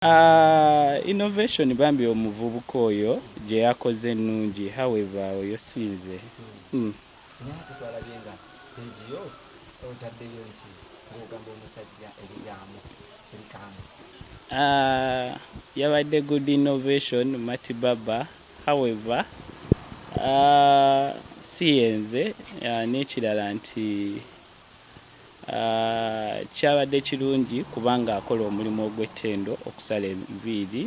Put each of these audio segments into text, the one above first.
Uh, innovation bambi omuvubuka oyo gye yakoze ennungi however oyo sinze mm. Uh, yabadde good innovation mati baba however uh, siyenze uh, n'ekirala nti Kyabadde kirungi kubanga akola omulimu ogw'ettendo okusala enviiri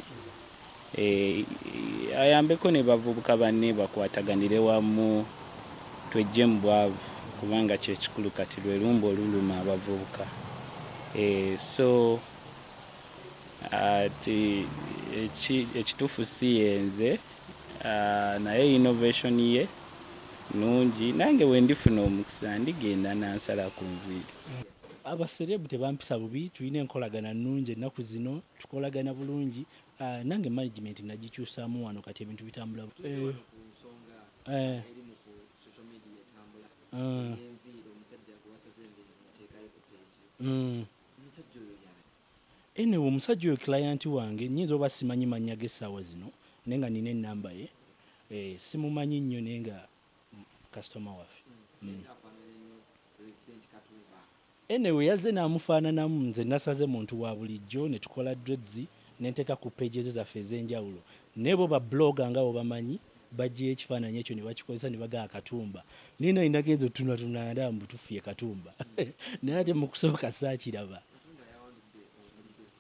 ayambeko ne bavubuka banne bakwataganire wamu tweggye mu bwavu kubanga kye kikulu kati lwe lumbe oluluma abavubuka so ati ekituufu si ye nze. Uh, naye innovation ye nungi nange wendifuna omukisa ndigenda nansala ku nviiri abaserebu tebampisa bubi tulina enkolagana nungi ennaku zino tukolagana bulungi uh, nange management nagikyusamu wano kati ebintu bitambula eh. Eh. Ah. Mm. Anyway omusajja oyo client wange nyinza oba simanyi manya ge sawa zino naye nga nina enamba ye eh, simumanyi nnyo naye nga customer waffe mm. Anyway yazze namufaananamu nze nasaze muntu wa bulijjo ne tukola dreads ne nteeka ku page ze zaffe ez'enjawulo naye bo ba blogger nga bobamanyi bajjayo ekifaananyi ekyo ne bakikozesa ne bagaa katumba naye naye nagenze otunatunala ndaba mbu tuffu ye katumba naye ate mu kusooka saakiraba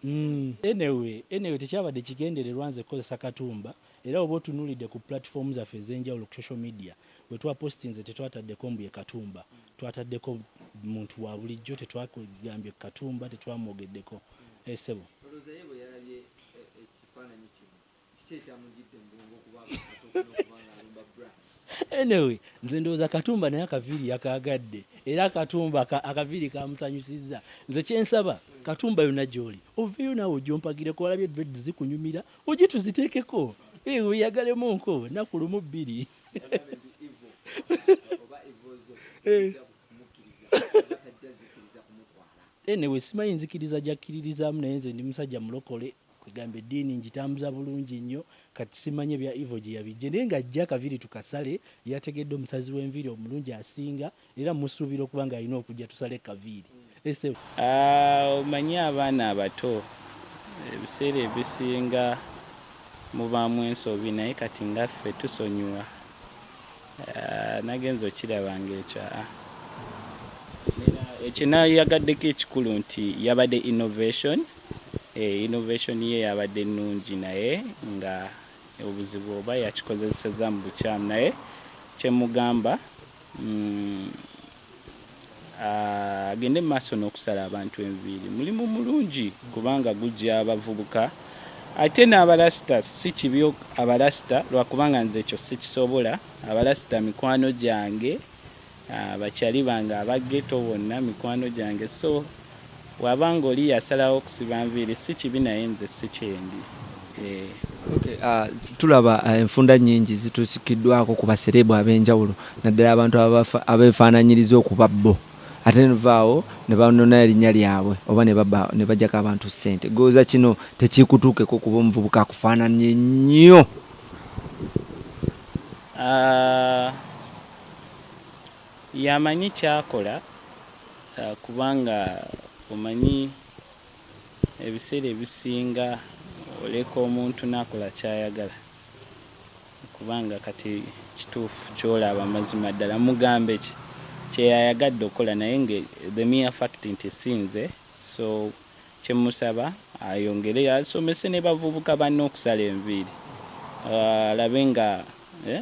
Mm. Anyway, anyway tekyabadde kigendererwa nze kukozesa katumba era oba otunulidde ku platform zaffe ez'enjawulo ku social media we twapostinze tetwataddeko mbu ye katumba twataddeko muntu wa bulijjo tetwagambye katumba tetwamwogeddeko esebo eh, anyway nze ndowooza katumba naye akaviiri yakaagadde era katumba akaviiri kamusanyusizza nze kyensaba katumba yona gyoli oveeyo naawe ojompagireko olabye dred zikunyumira oji tuziteekeko eh, weyagalemu nko naku lumu bbiri eh. anyway simanyi nzikiriza gyakkiririzaamu naye nze ndi musajja mulokole Kwegamba ediini njitambuza bulungi nnyo kati simanyi ebya evil gyeyabijje naye nga ajja akaviri tukasale yategedde omusazi wenviri omulungi asinga era musuubira okuba nga alina okujja tusale kaviiri ese Aah omanyi abaana abato ebiseera ebisinga mubaamu ensobi naye kati nga ffe tusonyiwa aah nagenze okiraba nga ekyo aah. Nina kyenayagadeko ekikulu nti yabade innovation. Eh, innovation ye yabadde nnungi naye nga obuzibu oba yakikozeseza mu bukyamu naye kyemugamba mm, ah, agende maaso n'okusala abantu enviiri mulimu mulungi kubanga gujja abavubuka ate n'abalasita si kibi abalasita lwakubanga nze ekyo sikisobola abalasita mikwano gyange Bakyali bange aba ghetto bonna mikwano gyange so waba nga oli yasalawo okusiba nviiri si kibi naye nze si kyendi. Eh. Okay, uh, tulaba uh, enfunda nyingi zitusikiddwako ku basereebu ab'enjawulo naddala abantu abeefaananyiriza okuba bo ate nevaawo ne banona erinnya lyabwe oba ne bajjako abantu ssente gooza kino tekikutuukeko kuba omuvubuka akufaananye nnyo uh, Yamanyi kyakola kubanga omanyi ebiseera ebisinga oleka omuntu nakola kyayagala kubanga kati kituufu kyolaba mazima ddala mugambeki kyeyayagadde okukola naye nga the mere fact nti sinze so kyemusaba ayongere asomese nebavubuka banne okusala enviiri alabe nga eh,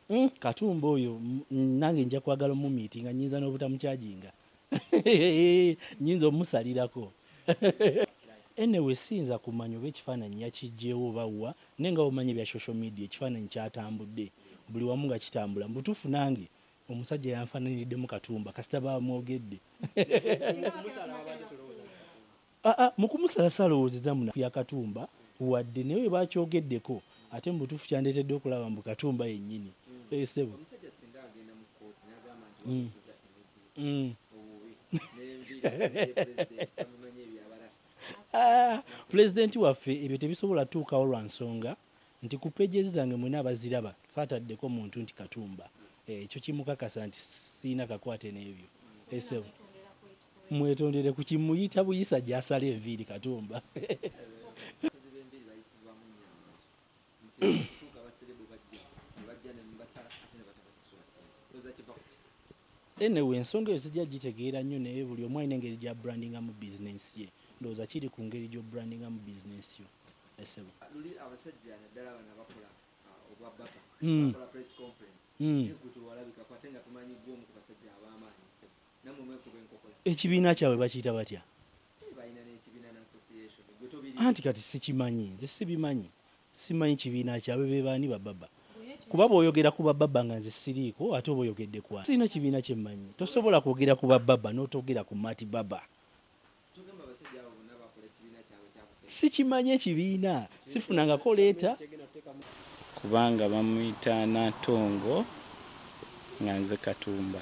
Mm, katumba oyo nange nja kwagala omumiiti nga nyinza n'obutamukyajinga nyinza omusalirako anyway siyinza kumanya oba ekifaananyi yakijjeewo oba wa naye nga omanyi ebya social media ekifaananyi kyatambudde buli wamu nga kitambula mu butuufu nange omusajja yanfaananiriddemu katumba kasita bamwogedde Aa mukumusala salowozeza muna kuya katumba wadde naye webakyogedeko ate mubutufu kyandetedde okulaba mbu katumba yenyini eeh sebo Aa pulezidenti waffe ebyo tebisobola tuukawo lwansonga nti ku pages zange mwena abaziraba sataddeko muntu nti katumba eeh ekyo kimukakasa nti sirina kakwate nebyo eeh sebo. Mwetondere ku kimuyita buyisa gyasala enviiri katumba. Enewe ensonga eyo sijja gitegeera nnyo naye buli omu alina engeri gya brandinga mu bizinensi ye ndowooza kiri ku ngeri gyo brandinga mu bizinensi yo esebo luli abasajja naddala bano abakola uh, obwa baba hmm. bakola press conference hmm. ekutu walabikako ate nga tumanyi gwomu ku basajja ab'amaanyi ekibiina kyabwe bakiyita batya anti kati sikimanyi nze sibimanyi simanyi kibiina kyabwe bebaani bababa kuba bwoyogera ku bababa nga nze siriiko ate oba oyogedde kwa sirina kibiina kyemmanyi tosobola kwogera ku bababa n'otogera ku mati baba sikimanyi ekibiina sifunangako leeta kubanga bamuyita natongo nga nze katumba